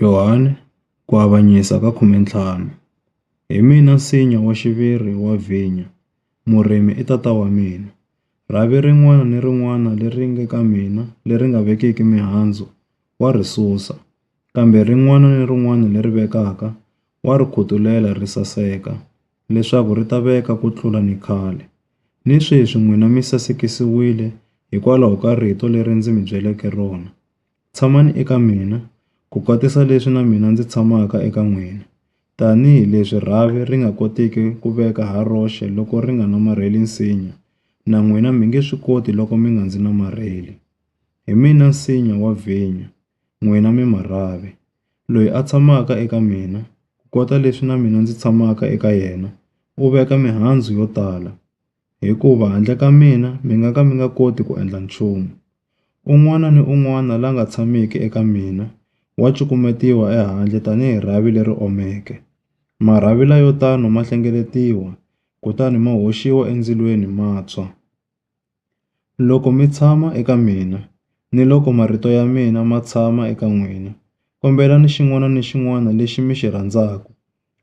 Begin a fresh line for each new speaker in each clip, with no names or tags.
Yohane, ku avanyisa ka 15, Hi mina nsinya wa xiviri wa vhinya, murimi i tata wa mina. Rhavi rin'wana ni rin'wana leri nge ka mina leri nga vekiki mihandzu, wa ri susa, kambe rin'wana ni rin'wana leri vekaka, wa ri khutulela ri saseka, leswaku ri ta veka ku tlula ni khale. Ni sweswi n'wina mi sasekisiwile hikwalaho ka rito leri ndzi mi byeleke rona. Tshamani eka mina, ku kotisa leswi na mina ndzi tshamaka eka n'wina. Tanihi leswi rhavi ri nga kotiki ku veka ha roxe loko ri nga namarheli nsinya, na n'wina mi nge swi koti loko mi nga ndzi namarheli. Hi mina nsinya wa vhinyo, n'wina mi marhavi. Loyi a tshamaka eka mina, ku kota leswi na mina ndzi tshamaka eka yena, u veka mihandzu yo tala. Hikuva handle ka mina mi nga ka mi nga koti ku endla nchumu. Un'wana ni un'wana la nga tshamiki eka mina wa cukumetiwa ehandle tanihi rhavi leri omeke. Marhavi layo tano ma hlengeletiwa, kutani ma hoxiwa endzilweni ma tshwa. Loko mi tshama eka mina, ni loko marito ya mina ma tshama eka n'wina, kombelani xin'wana ni xin'wana lexi mi xi rhandzaku,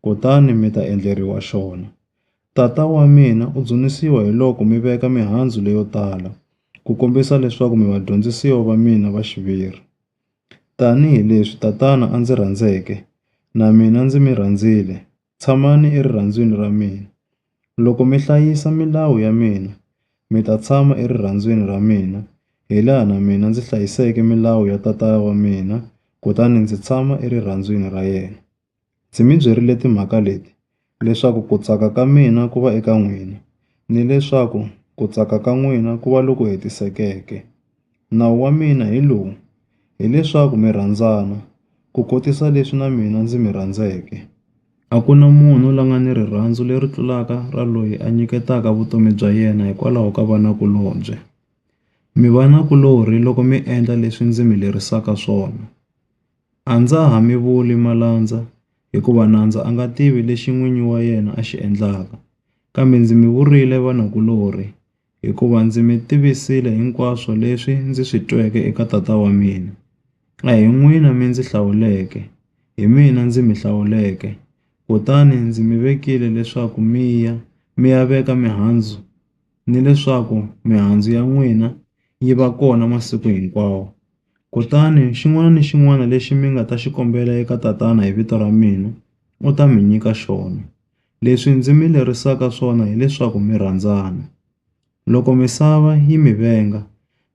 kutani mi ta endleriwa xona. Tata wa mina u dzunisiwa hiloko mi veka mihandzu leyo tala ku kombisa leswaku mi vadyondzisiwa va mina va xiviri. Tanihi leswi Tatana a ndzi rhandzeke, na mina ndzi mi rhandzile, tshamani erirhandzwini ra mina. Loko mi hlayisa milawu ya mina, mi ta tshama erirhandzwini ra mina, hilaha na mina ndzi hlayiseke milawu ya Tata wa mina kutani ndzi tshama erirhandzwini ra yena. Ndzi mi byerile timhaka leti leswaku ku tsaka ka mina ku va eka n'wina, ni leswaku ku tsaka ka n'wina ku va loku hetisekeke. Nawu wa mina hi lowu, hi leswaku mi rhandzana, ku kotisa leswi na mina ndzi mi rhandzeke. A ku na munhu la nga ni rirhandzu leri tlulaka ra loyi a nyiketaka vutomi bya yena hikwalaho ka vanakulobye. Mi vanakulorhi loko mi endla leswi ndzi mi lerisaka swona. A ndza ha mi vuli malandza, hikuva nandza a nga tivi lexi n'winyi wa yena a xi endlaka. Kambe ndzi mi vurile vanakulorhi, hikuva ndzi mi tivisile hinkwaswo leswi ndzi swi tweke eka Tata wa mina. A hi n'wina mi ndzi hlawuleke, hi mina ndzi mi hlawuleke, kutani ndzi mi vekile leswaku mi ya, mi ya veka mihandzu, nileswaku mihandzu ya n'wina yi va kona masiku hinkwawo. Kutani xin'wana ni xin'wana lexi mi nga ta xi kombela eka Tatana hi vito ra mina, u ta mi nyika xona. Leswi ndzi mi lerisaka swona hi leswaku mi rhandzana. Loko misava yi mi venga,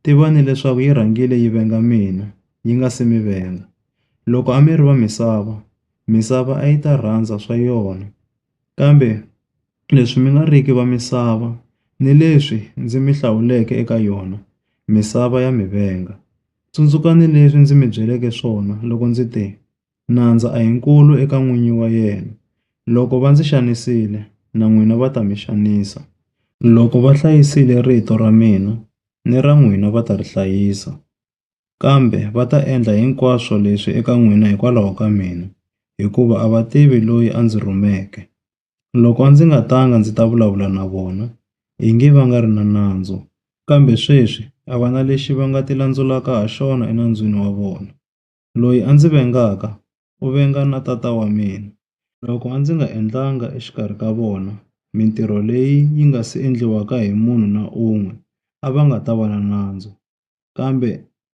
tivani leswaku yi rhangile yi venga mina, yi nga si mi venga. Loko a mi ri va misava, misava a yi ta rhandza swa yona. Kambe leswi mi nga riki va misava, ni leswi ndzi mi hlawuleke eka yona, misava ya mi venga. Tsundzukani leswi ndzi mi byeleke swona loko ndzi te, Nandza a hi nkulu eka n'winyi wa yena. Loko va ndzi xanisile, na n'wina va ta mi xanisa. Loko va hlayisile rito ra mina, ni ra n'wina va ta ri hlayisa. Kambe va ta endla hinkwaswo leswi eka n'wina hikwalaho ka mina, hikuva a va tivi loyi a ndzi rhumeke. Loko a ndzi nga tanga ndzi ta vulavula na vona, ingi va nga ri na nandzu, kambe sweswi a va na lexi va nga tilandzulaka ha xona enandzwini wa vona. Loyi a ndzi vengaka, u venga na Tata wa mina. Loko a ndzi nga endlanga exikarhi ka vona mintirho leyi yi nga si endliwaka hi munhu na un'we, a va nga ta va na nandzu. Kambe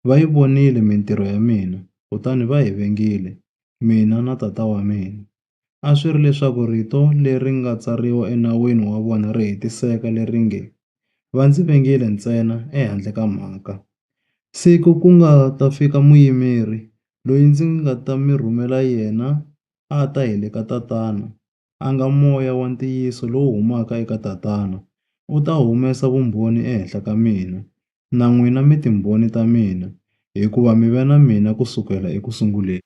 va yi vonile mintirho ya mina kutani va hi vengile, mina na tata wa mina. A swi ri leswaku rito leri nga tsariwa enawini wa vona ri hetiseka leri nge, Va ndzi vengile ntsena ehandle ka mhaka. Siku ku nga ta fika muyimeri, loyi ndzi nga ta mi rhumela yena a ta hi le ka tatana, a nga Moya wa ntiyiso lowu humaka eka Tatana, u ta humesa vumbhoni ehenhla ka mina, na n'wina mi timbhoni ta mina, hikuva mi ve na mina ku sukela eku sunguleni.